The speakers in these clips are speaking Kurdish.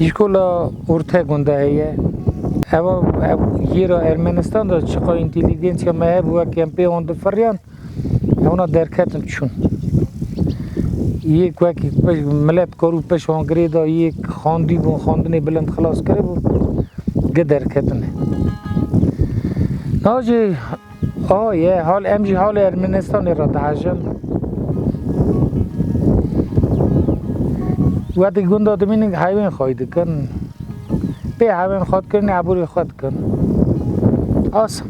Îşkola orta gunda heye. Eva ev yêra Ermenistan da çiqa întelîgensya me hebû wek em pê an difiriyan hewna derketin çûn. Yek wekî milet kar û peş hangirê da yek xandî bûn xandinê bilind xilas kiribû gi derketine. Nacê A ye hal em jî halê Ermenistanê re dihejin. We di gunda dimînin heyvên xwe dikin. Pê heyvên xwe dikirinê aborê xwe dikin. As.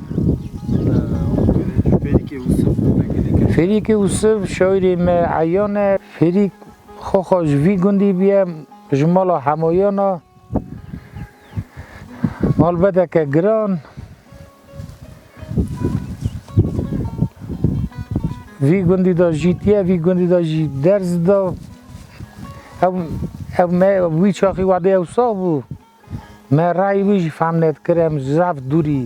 Ferîkê Usif şairê me eyan e. Ferîk xwexa ji vî gundî biye ji mala hemoyana malbedeke giran. Vî gundî de jîtiye, vî gundî de jî derz de ew ew me wî çaxî wadê ew sax bû. Me rayî wî jî fam nedikir em zaf dûrî.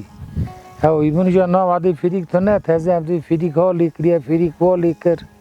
Ew îbûn ja na wadê fêrîk tune teze em dê fêrîk halê kiriye, fêrîk valê kir.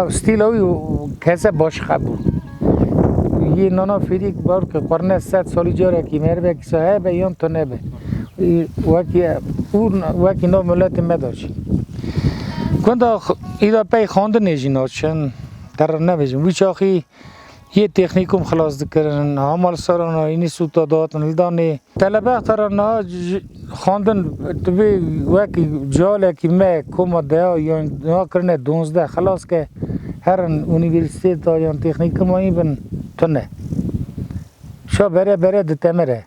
Ew stîla wî kese baş xebû. Yê nana fêrîk bar ki xurne sed salî carekî merivekî sa hebe yan tu nebe. Wekî û wekî nav miletê me da çî. Gunda îda pey xandinê jî naçin. Te re nebêjim. Wî çaxî Yê têxnîkum xilas dikirin, ha malsera na înî sûta dihatin lidanê. Telebexta ra niha xwendin divê wekî cealekî me koma deha yan niha kirine donzdeh xilas ke herin unîversîtêta yan têxnîkumayî bin tune. Şa bere bere ditemire.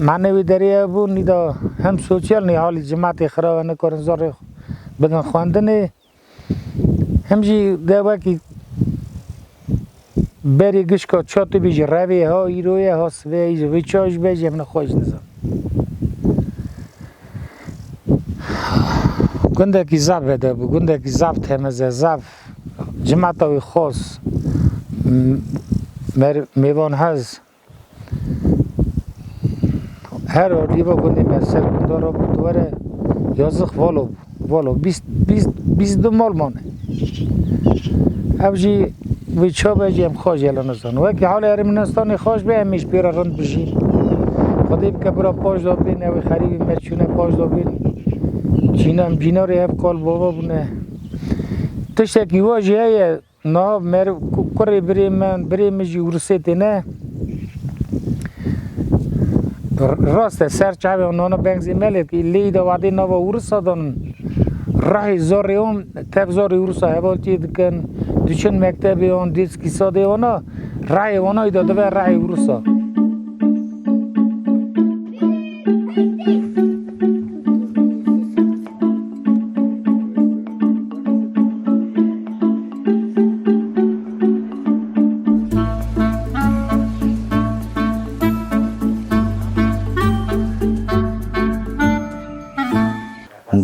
Manê wê derê ew bû nîda hem sosyal nê halê cimetê xirabe nikarin zarê bidin xwendinê. Em jî de wekî berê gişka çatê bê jî revê ha îro ye ha sibê ye jî vê ça ji be jî em ne xwe ji nizam. Gundekî zaf ve de bû, gundekî zaf temiz e, zaf cimata wî xos, mêvanhez, Her orîva gundê me ser gunda ra bû dwere yazix valo bû. Valo bîst bîst bîst du mal mane. Ev jî vê çabe jî em xaj yela nizan. Wekî halê Ermenistanê xaj be em ê ji pê re rind bijîn. Xwedê bike bira paş da bên ew ê xerîbê me çûne paş da bên. Cîna em cîna rê hev kal bava bûne. Tiştekî wa jî heye Na mer kurê birê min, birê min jî Rûsê tê ne. Rast e ser çavê wan nana bengzê melê tê. Lêyî de wadê nava Rûsa danin. Rahê zorê wan tev zorê Rûsa hevaltiyê dikin. Diçin mektebê wan dêrs kîsadê wana. Rahê wana î de dibe rahê Rûsa.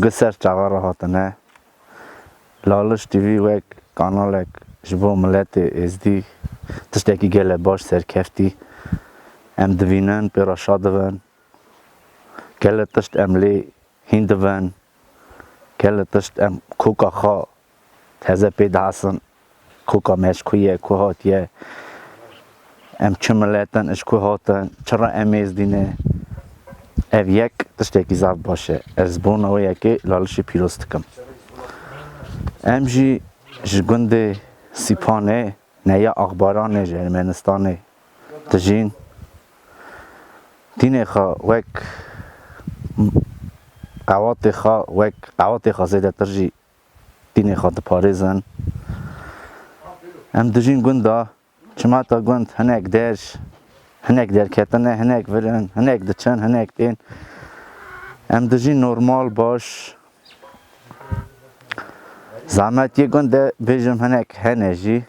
Bi ser çawa re hatine? Laliş TV wek kanalek ji bo miletê Êzdî tiştekî gelek baş serkeftî. Em divînin, pê re şa dibin. Gelek tişt em lê hîn divin, gelek tişt em koka xwe teze pê dihesin, koka me ji ku ye, ku hatiye, em çi milet in, ji ku hatin, çi re em ê zdîne. Ev yek tiştekî zaf baş e. Ez ji bona wê yekê lalişê pîroz dikim. Em jî ji gundê Sîpanê Neya Akbaranê ji Ermenistanê dijîn. Dînê xwe wek qewatê xwe wek qewatê xwe zêdetir jî dînê xwe diparêzin. Em dijîn gunda, çimata gund hinek der, hinek derketin e, hinek vir in, hinek diçin, hinek tên. Em dijîn normal, baş. Zahmet yê gund de bêjim hinek hene jî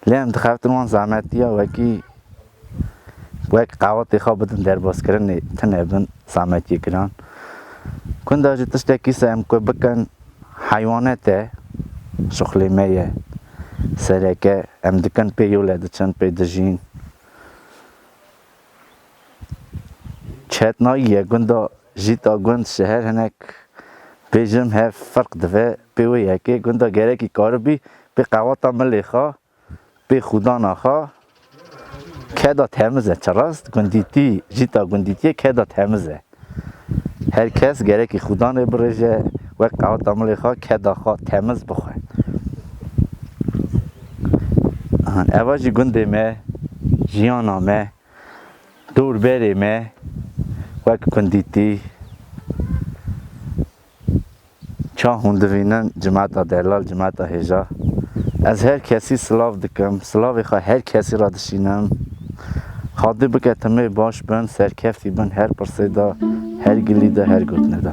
lê em dixeftin wan zahmetiya wekî wek qewatê xwe bidin derbazkirinê tune bin zahmet yê giran. Gunda jî tiştekî se em ku bikin heywanet e, şuxlê me ye. Sereke em dikin pê yole diçin, pê dijîn. Çet nayî ye gunda jît a gund şeher hinek bêjim hev ferq dive pê wê yekê gunda gerekî karibî pê qewata milê xwe pê xûdana xwe keda temiz e çi rast gundîtî jîta gundîtîye keda temiz e. Her kes gerekî xûdan rê birêje, wek qeweta milê xwe keda xwe temiz bixwe. An eva jî gundê me, jiyana me, dûrberê me wek kundîtî Çav hûn divînin cimeta delal cimeta hêja ez her kesî silav dikim silavê xwe her kesî re dişînim Xwedê bike timê baş bin serkeftî bin her pirsê de her gilî de her gotinê de.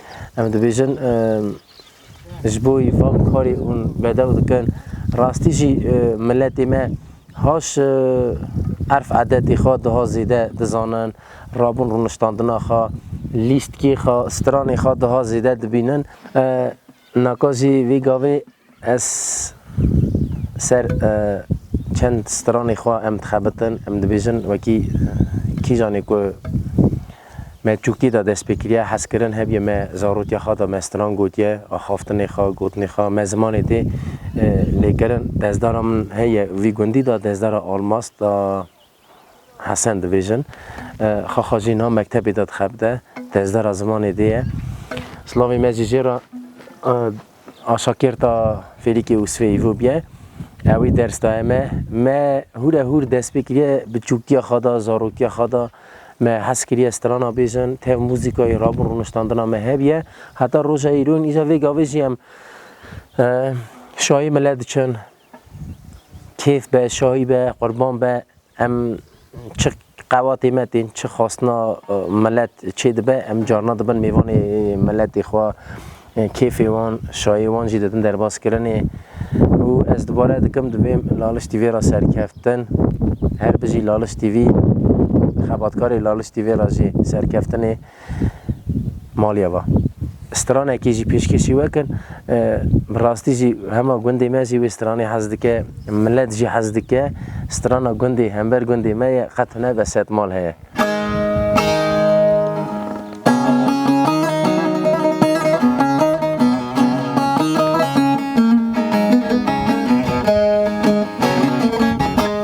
Em dibêjin ji bo wî van karê hûn bedew dikin. Rastî jî miletê me haş erf edetê xwe diha zêde dizanin, rabûn rûniştandina xwe, lîstkê xwe, stranê xwe diha zêde dibînin. Naka jî vê gavê Ez ser çend stranê xwe em dixebitin, em dibêjin wekî kîjanê ku me Tirkî de dest pê kiriye, hez kirin hebîye me zarotiya xwe de me stran gotiye, axaftinê xwe, gotinê xwe me zimanê tê lêkirin. Dezdara min heye vî gundî de, dezdara Almaz de. Hesen dibêjin, Xaxa jî niha mektebê de dixebite, têzdera zimanê dê ye. Silavê me jî jê re aşakêrta fêlîkê û sivê îvo bûye. Ewî ders daye me. Me hûre hûr dest pê kiriye bi çûkiya xwe de, zarokiya xwe de. Me hez kiriye strana bêjin, tev muzîkayê rabûn rûniştandina me hebûye. Heta roja îro ên îja vê gavê jî em şayê mele diçin, Kêf be, şahî be, qurban be, em çi qewatê me tên, çi xwastina milet çê dibe, em carna dibin mêvanê miletê xwe, kêfê wan, şahiyê wan jî didin derbaskirinê û ez dubare dikim divêm Laliş TV ra serkeftin. Her bijî Laliş TV, xebatkarê Laliş TV ra jî serkeftinê. Maliye va. Stranekê jî pêşkêşî we kin. Bi rastî jî hema gundê me jî wê stranê hez dike, milet jî hez dike. Strana gundê hember gundê me ye qet ne be sed mal heye.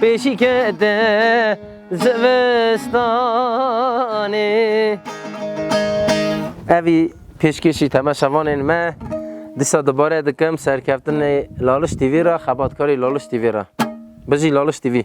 Pêşî kete zivistanê. Evî pêşkêşî Teme Şevanên me disa dubare dikim serkeftinê Laliş TV ra, xebatkarî Laliş TV ra. Bijî Laliş TV.